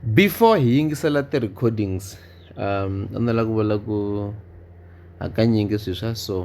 Before hi yingisela ti-recordings a ni lava ku vula ku hakanyingi swilo swa so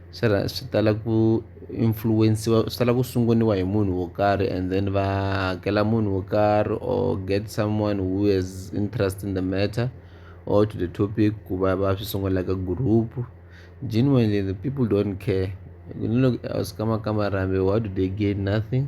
swi rha swi tala ku influence-wa swi tala ku sunguriwa hi munhu wo karhi and then va hakela munhu wo karhi or get someone who has interest in the matter or to the topic ku va va swi sungula like a group genuinely the people don't care ni loko a swi kamakama rambiwa what do they gain nothing.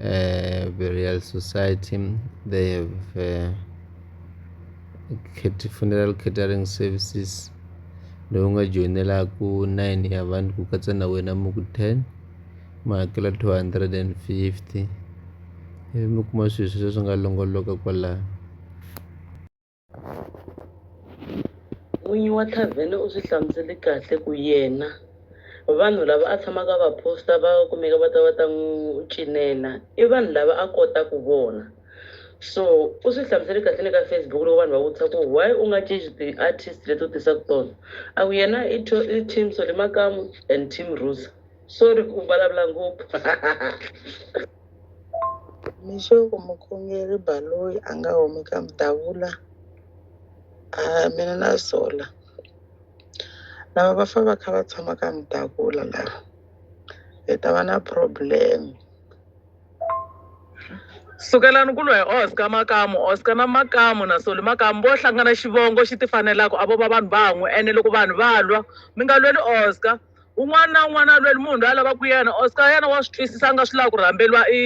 uh, burial society they have uh, funeral catering services lowu nga joyinelaku 9 ya vanhu ku katsa na wena muku 10 ma hakela 250 ivi mi kuma swilo sweswo swi nga longoloka kwalaho N'winyi wa thavhene u swi hlamusele kahle ku yena vanhu lava a tshamaka va posta va kumeka va ta va ta n'wi cinela i vanhu lava a kotaka vona so u swi hlamusele kahle le ka Facebook loko vanhu va vutisa ku why u nga cinci ti-artist leti u tisaka tona a ku yena i i team Solly Makamu and team Rusa sorry ku vulavula ngopfu Mixo mukhongeri Baloyi a nga humi ka Mdavula a mina na sola lava va fa va kha va tshama ka Mdavula lava hi ta va na problem. Sukelani ku lwa hi Oscar Makamu Oscar na Makamu na Solly Makamu vo hlangana xivongo xi ti fanelaka a vo va vanhu van'we ene loko vanhu va lwa mi nga lweli Oscar. un'wana na un'wana a lweli munhu loyi a lavaka ku yena oscar yena wa swi twisisa a nga swi lavi ku rhamberiwa i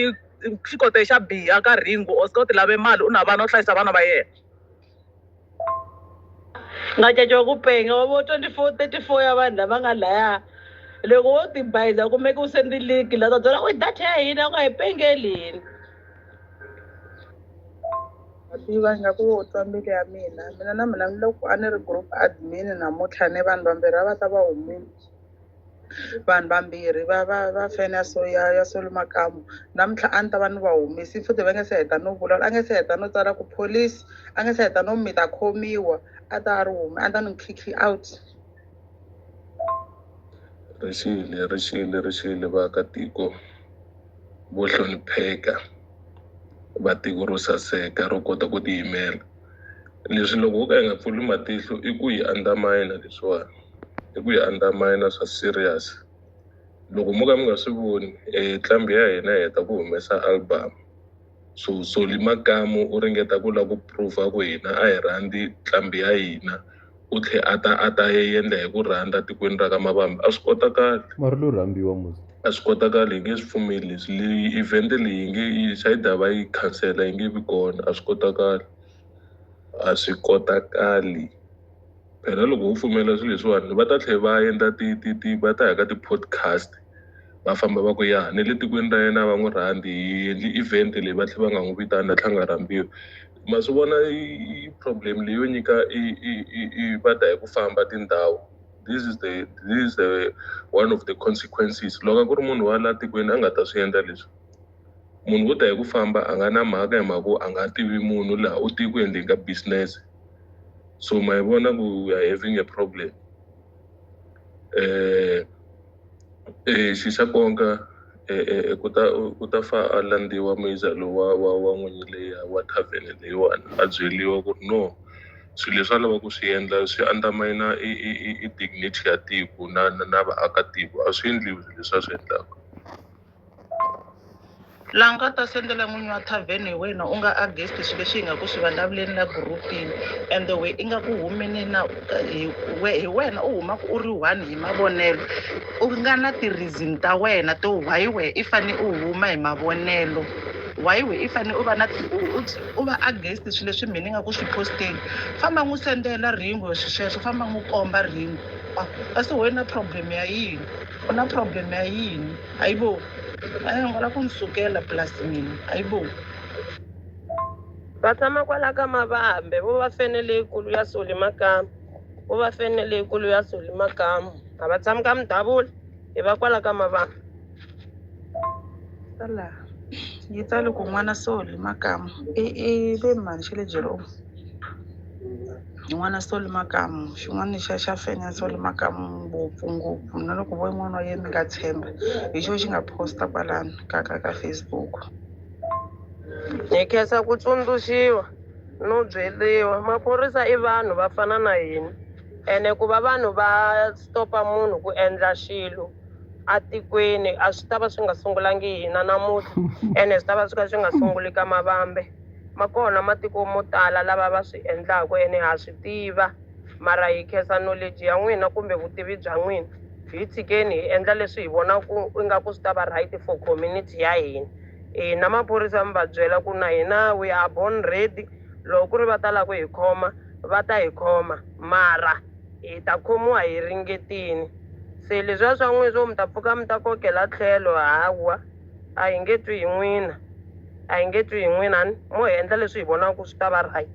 xikote xa biha ka ringo oscar u ti lave mali u na vana u hlayisa vana va yena nga caca wa ku penga wa vo 24 34 ya vanhu lava nga laya loko wo tibayiza kumeke u sendi liki la ta byela ku data ya hina u nga hi pengeli hina Ma tiva ingaku wo twa mbilu ya mina mina na mina ni loko a ni ri group admin namuntlha ni vanhu vambirhi a va ta va humile vanhu vambirhi va va va fene ya so ya ya solo makamu namuntlha a ni ta va ni va humisi futhi va nge se heta no vulavula a nge se heta no tsala ku police a nge se heta no mi ta khomiwa a ta a ri hume a ni ta ni khikhi out ri xile ri xile ri xile vaakatiko vo hlonipheka va tiko ro saseka ro kota ku tiyimela leswi loko ho ka hi nga pfuli matihlo i ku yi andamina leswiwani i ku yi andamina swa serious loko mo ka mi nga swi voni e nqambi ya hina yi heta ku humesa album. so soli makamu u ringeta ku lava ku prova ku hina a hi rhandzi nqambi ya hina u tlhe a ta a ta yendla hi ku rhandza tikweni ra ka mavambi a swi kotakali mara lo rhambiwa muzi a swi kotakali hi nge swi pfumeli leswi leyi event leyi yi nge yi sayida va yi khansela yi nge vi kona a swi kotakali a swi kotakali phela loko wo pfumela swilo leswiwani va ta tlhela va endla ti ti ti va ta ya ka ti-podcast va famba va ku ya ni le tikweni ra yena va n'wi rhandzi hi endli event leyi va tlhela va nga n'wi vitani na tlhanga rambiwa ma swi vona i i problem leyo nyika i i i i va ta hi ku famba tindhawu this is the this is the one of the consequences loko a ku ri munhu wa la tikweni a nga ta swi endla leswi munhu wo ta hi ku famba a nga na mhaka hi mhaka ku a nga tivi munhu laha u tiku endleni ka business so ma yi vona ku we are having a problem eh eh xi xa konka eh, eh, eh, ku ta ku ta fa a landziwa muyiza lowu wa wa wa n'winyi leya wa tavern leyiwani a byeliwa ku ri no swilo leswi a lava ku swi endla swi andamina i i i- i dignity ya tiko na na, na vaakatiko a swi endliwi swilo leswi a swi endlaka la nga ta sendela n'winyi wa thavhene hi wena u nga against swilo leswi hi nga ku swi vulavuleni la gurupini and the way i nga ku humeni na hi we- hi wena u humaka u ri one hi mavonelo u nga na ti-reason ta wena to why wehe i fane u huma hi mavonelo why we i fane u va na ti- u- u- u va against swilo leswi mina ni nga ku swi posteni famba n'wi sendela ringo swi sweswo famba n'wi komba ringo Ah, kasi wena problem ya yini U na problem ya yini? Hayibo! A ya hungula ku ni sukela plus mina. Hayibo! Va tshama kwala ka Mavambe, vo va fene leyikulu ya Soli Makamu. Vo va fene leyikulu ya Soli Makamu. A va tshami ka Mudabula, i va kwala ka Mavambe. Ta laha yi tsale ku N'wana Soli Makamu i i le Mhani xa le Jeromu. yin'wana swo le makamu xin'wana xa xa fenya swo le makamu ngopfungopfu na loko vo yin'wana wa yena mi nga tshemba hi xo xi nga posta kwalano ka ka ka facebook hi khensa ku tsundzuxiwa no byeriwa maphorisa i vanhu va fana na hina ene ku va vanhu va stopa munhu ku endla xilo atikweni a swi ta va swi nga sungulangi hina namuntlha ene swi ta va swi kha swi nga sunguli ka mavambe Ma kona matiko mo tala lava va swi endlaka ene ha swi tiva. Mara hi khensa knowledge ya n'wina kumbe vutivi bya n'wina. Hi tshikeni hi endla leswi hi vonaka ingaku swi ta va right for community ya hina. Hina maphorisa mi va byela ku na hina we are born ready. Loko ku ri va ta lava ku hi khoma va ta hi khoma mara hi ta khomiwa hi ringetile. Se leswiya swa n'wina swo mi ta pfuka mi ta kokela tlhelo hawa. a hi nge twi hi n'wina a hi nge twi hi n'wina ni mo hi endla leswi hi vonaka swi ta va right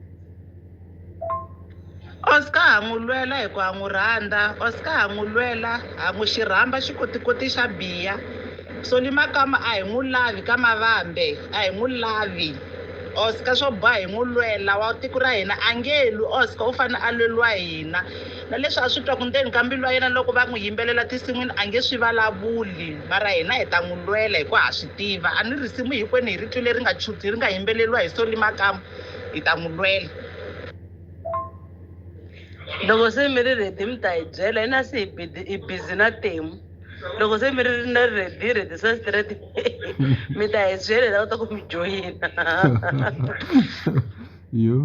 oscar ha n'wi lwela hi ku ha n'wi rhandza oscar ha n'wi lwela ha n'wi xi rhamba xikotikoti xa biya soli makama a hi n'wi lavi ka mavambe a hi n'wi lavi oscar swo boha hi n'wi lwela wa tiko ra hina a nge lwi oscar u fanele a lweliwa hina na leswi a swi twaku ndzeni ka mbilu ya yena loko va n'wi yimbelela tinsin'wini a nge swi valavuli mara hina hi ta n'wi lwela hi ku ha swi tiva a ni risimu hikwenu hi ri twile ri nga chuti ri nga yimbeleriwa hi soli makamu hi ta n'wi lwela loko se mi ri redi mi ta hi byela hina se hi busy na temu loko se mi ri na redi hi redisa straight mi ta hi byela hi lava ta ku mi joyina yo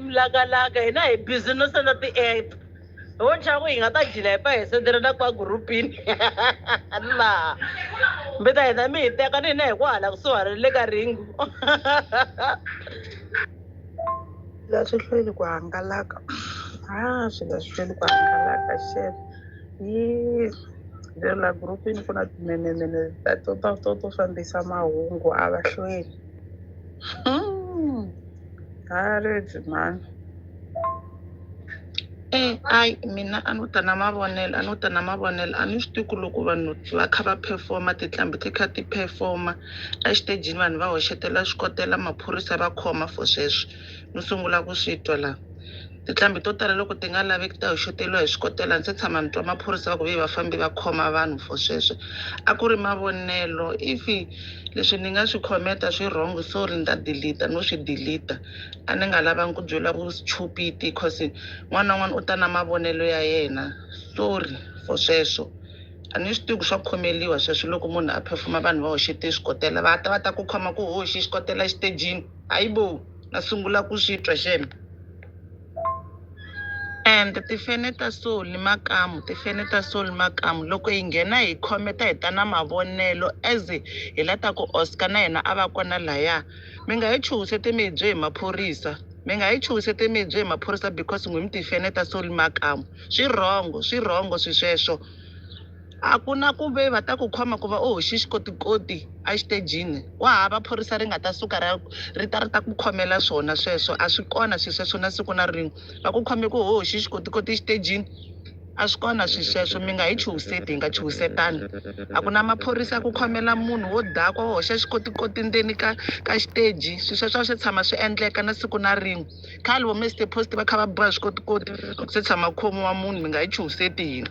mlakalaka hina hi busy no senda ti-app ho nxaku hi nga ta jila hi pa hi sendelana kwa gurupini laha mi ta hina mi hi teka ni hina hi ku hala kusuhana le ka ringu la swi hlweli ku hangalaka a ah, swi nga swi hlweli ku hangalaka xer yi lero la gurupini ku na timenemene ta to to to fambisa mahungu a va hlweli hmm. Haredi mhani. Eh, ai mina a ni ta na mavonelo a ni ta na mavonelo a ni swi tivi ku loko vanhu va kha va performa tinqambi ti kha ti performa exitejini vanhu va hoxetela swikotela maphorisa va khoma for sweswo ni sungula ku swi twa laha Tinhlambi to tala loko ti nga laveki ta hoxoteriwa hi swikotela. Ndzi se tshama ni twa maphorisa va ku ve vafambi va khoma vanhu for sweswo. A ku ri mavonelo. If leswi ni nga swi comment-a swi wrong sorry ni ta delete-a no swi delete-a. A ni nga lavangi ku byeriwa vuchupiti coz un'wana na un'wana u ta na mavonelo ya yena. Sorry for sweswo. A ni swi tivi ku swa khomeliwa sweswo loko munhu a phefuma vanhu va hoxete swikotela va ta va ta ku khoma ku u hoxe xikotela exitejini hayibo. na sungula ku swi twa xana and tifene ta so ni makamu tifene ta so ni makamu loko hi nghena hi khometa hi ta na mavonelo as hi la ta ku oscar na yena a va kona laya mi nga hi chuhisete mi hi bye hi maphorisa mi nga hi chuhisete mi hi bye hi maphorisa because n'wi mi tifene ta so ni makamu swi rhongo swi rhongo swi sweswo A ku na ku ve va ta ku khoma ku va u hoxe xikotikoti exitejini. Wa hava phorisa ri nga ta suka ri ri ta ri ta ku khomela swona sweswo. A swi kona swilo sweswo na siku na rin'we. Va ku khome ku u hoxe xikotikoti exitejini? A swi kona swilo sweswo. Mi nga hi chuhiseti, hi nga chuhisetani. A ku na maphorisa ya ku khomela munhu wo dakwa, wo hoxa xikotikoti ndzeni ka ka xiteji. Swilo sweswo a swi se tshama swi endleka na siku na rin'we. khale vo mr post va kha va ba swikotikoti se tshama khomiwa munhu mi nga yi chuhiseti yini